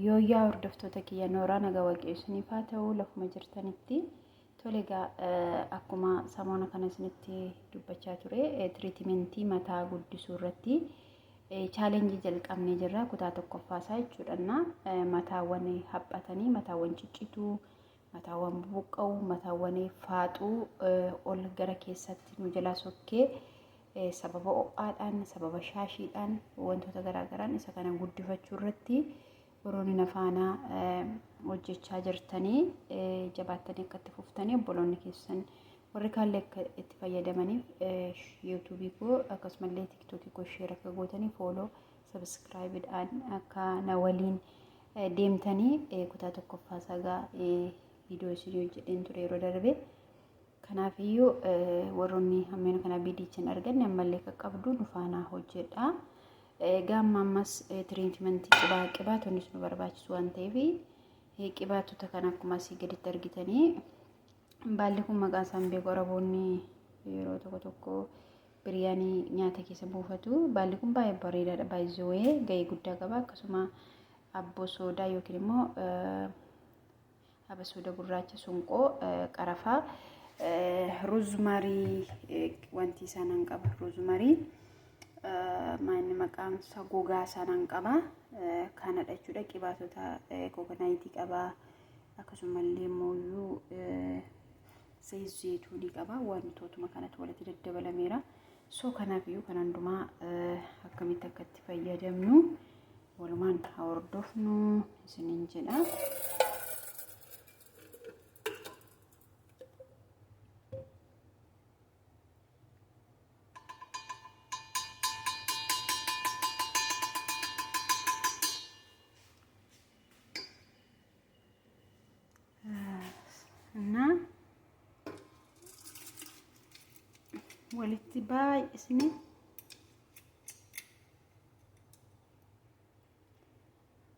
Yooyyaa hordoftoota kiyya nooraa naga waqee isiniif haa ta'u lafuma jirtanitti tole egaa akkuma samoona kana isinitti dubbachaa ture tiriitimentii mataa guddisuu irratti chaalenjii jalqabnee jirra kutaa tokkoffaa isaa jechuudhanna mataawwan haphatanii mataawwan ciccituu mataawwan bubuqqa'u mataawwan faaxuu ol gara keessatti nu jalaa sokkee sababa ho'aadhaan sababa shaashiidhaan wantoota garaagaraan isa kana guddifachuu irratti warroonni nafaanaa hojjechaa jirtanii jabaattanii akka itti fuftanii obboloonni keessan warri kaallee akka itti fayyadamaniif yuutuubii koo akkasumallee tiiktookii koo sheer akka gootanii fooloo sabiskiraayibidhaan akka na waliin deemtanii kutaa tokkoffaa sagaa viidiyoo isin hojjedheen ture yeroo darbe. Kanaafiyyuu warroonni hammeen kana biidiicha hin arganne ammallee qaqqabdu nu faanaa hojjedha. Gaamma ammas tiriitimantii qibaa qibaatonni nu barbaachisu waan ta'eef qibaatota kana akkuma asii gaditti argitanii Baalli kun maqaa isaan beeku Araboonni yeroo tokko tokko biryaanii nyaata keessa buufatu. Baalli kun baay'ee bareedaadha. Baay'ee ga'ee guddaa qaba. Akkasuma abboo soodaa yookiin immoo abasuuda gurraacha sunqoo qarafaa ruuzmarii wanti isaan qaba. Ruuzmarii maanni maqaan isaa gogaa isaan qaba. Kanadha jechuudha. Qibaatota kokonaayitii qaba. akkasumallee mooyyuu sayii zeetuunii qaba wantootuma kanatti walitti daddabalameera soo kanaaf iyyuu kan hundumaa akkamitti akka itti fayyadamnu walumaan haa hordofnu isiniin jedha. እና walitti baay'isne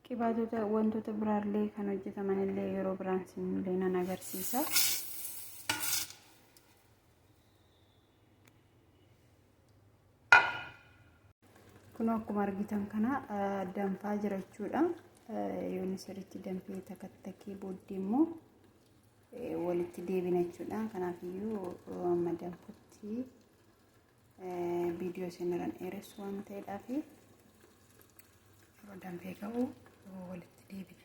qibaatota wantoota biraallee kan hojjetaman illee yeroo biraan sinillee nan agarsiisa. kun akkuma argitan kana danfaa jira jechuudha yoonni sirriitti danfee takattakee booddee immoo walitti deebina jechuudha kanaaf iyyuu amma danfutti viidiyoo isinirran dheeressu waan ta'eedhaaf yeroo danfee ka'u walitti deebina.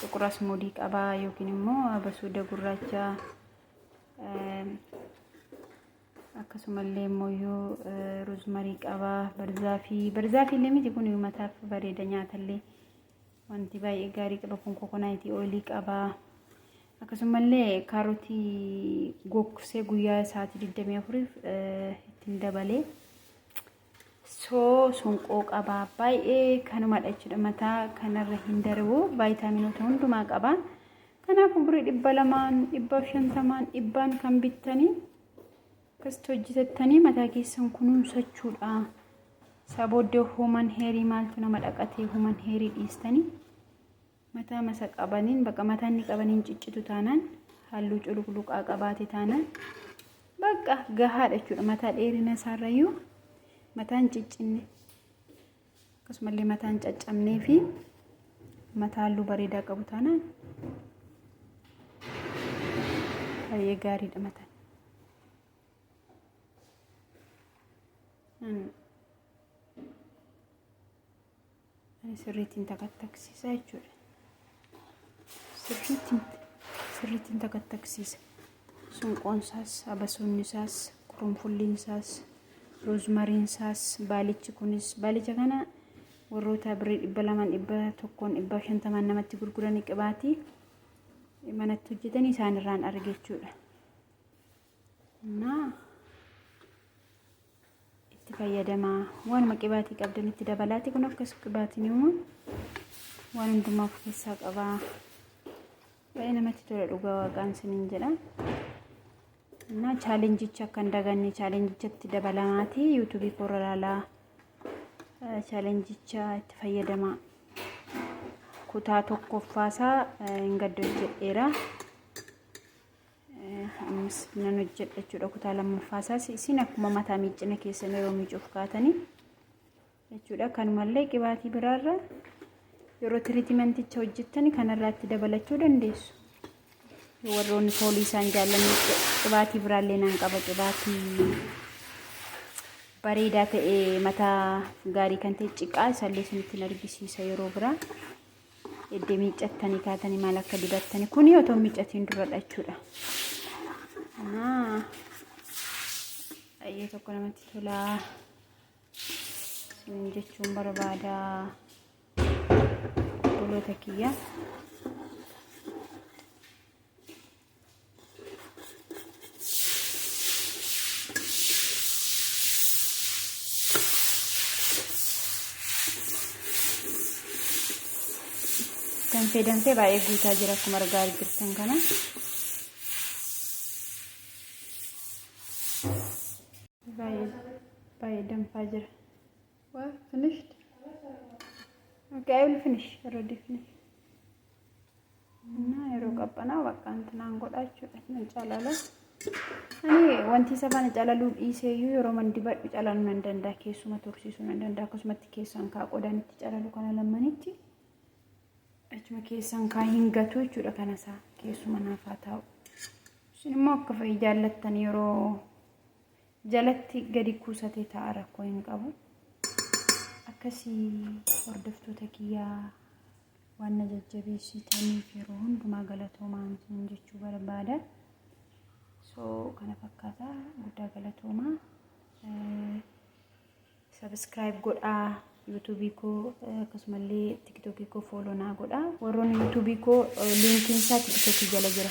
Xuqur asmoodii qaba yookiin immoo abasuuda gurraacha akkasumallee immoo rozmarii qaba barzaafii barzaafii illee miti kun uummataaf bareeda nyaatallee wanti baay'ee gaarii qaba kun kokonaayitii ooyilii qaba akkasumallee kaarotii gogsee guyyaa sa'aatii 24f ittiin dabalee soo sun qooqa baa baay'ee kanumadha jechuudha mataa kanarra hin darbu vaayitaaminoota hundumaa qaba kanaafuu birrii dhibba lamaan dhibba shantamaan dhibbaan kan bittanii akkasitti hojjetattanii mataa keessan kunuunsachuudha sabooddee human heerii maaltu nama dhaqatee human heerii dhiistanii Mataa masa qabaniin bakka mataan ni qabaniin ciccitu taanaan halluu culukluqaa qabaate taanaan bakka gahaadha jechuudha mataa dheerina isaarrayyuu mataan ciccinne akkasumallee mataan caccabnee fi mataa halluu bareedaa qabu taanaan baay'ee gaariidha mataan. Mm. sirriittiin takattaksiisa jechuudha. Sirriittiin sirriittiin takattaksiisa. Sunqoon isaas, abasoonni isaas, qurunfulliin isaas, roozmariin isaas, baalichi kunis baalicha kana warroota birrii dhibba lamaan dhibba tokkoon dhibba shantamaan namatti gurguranii qibaatii manatti hojjetanii isaanirraan arge jechuudha. naa itti fayyadamaa waanuma qibaatii qabdan itti dabalaati kun akkas qibaatiin immoo waan hundumaa of keessaa qabaa baay'ee namatti tola dhugaa waaqaan siniin jedha naa chaalenjicha akka hin daganne chaalenjichatti dabalamaati yuutuubii koorra ilaalaa chaalenjicha itti fayyadamaa kutaa tokkoffaasaa hin gaddo jedheera. ammas nan hojjedha jechuudha kutaa lammaffaa isaas isin akkuma mataa miiccina keessan yeroo miicuuf kaatanii jechuudha kanumallee qibaatii biraarra yeroo tiriitimanticha hojjettan kanarraatti dabalachuu dandeessu warroonni foolii isaan jaallanne qibaatii biraallee nan qaba qibaatii bareedaa ta'e mataa gaarii kan ta'e ciqaa isallee isinitti argisiisa yeroo biraa Eddee miiccattanii kaatanii maal akka dibattanii kuni otoo miiccatiin duradha jechuudha. Anaa baay'ee tokko namatti tolaa isin jechuun barbaada obboloota kiyya. danfee danfee baay'ee guutaa jira akkuma argaa jirtan kana. Baay'ee danfaa jira. Well, finished. Okay, I will finish. Already finish. እና yeroo qabbanaa bakka intinaan godha jechuudha nan calala ani wanti isa faana calaluu dhiiseeyyuu yeroo man dibadhu calaluu nan danda'a keessuma tursiisuu nan danda'a akkasumatti keessaan kaa qodaan itti calalu kana lammanitti achuma keessaan kaa hin gatu jechuudha kana isaa keessuma naaf haa taa'u isin immoo akka fa'i jaallattan yeroo jalatti gadi kuusatee ta'a rakkoo hin qabu. Akkasii hordoftoota kiyyaa waan na jajjabeessitaniif yeroo hundumaa galatoomaa isin jechuu barbaada. So kana fakkaata guddaa galatoomaa. Sabiskiraayib godhaa yuutuubii koo akkasumallee tiktookii koo fooloo naa godhaa. Warroonni yuutuubii koo liinkiin isaa tiktookii jala jira.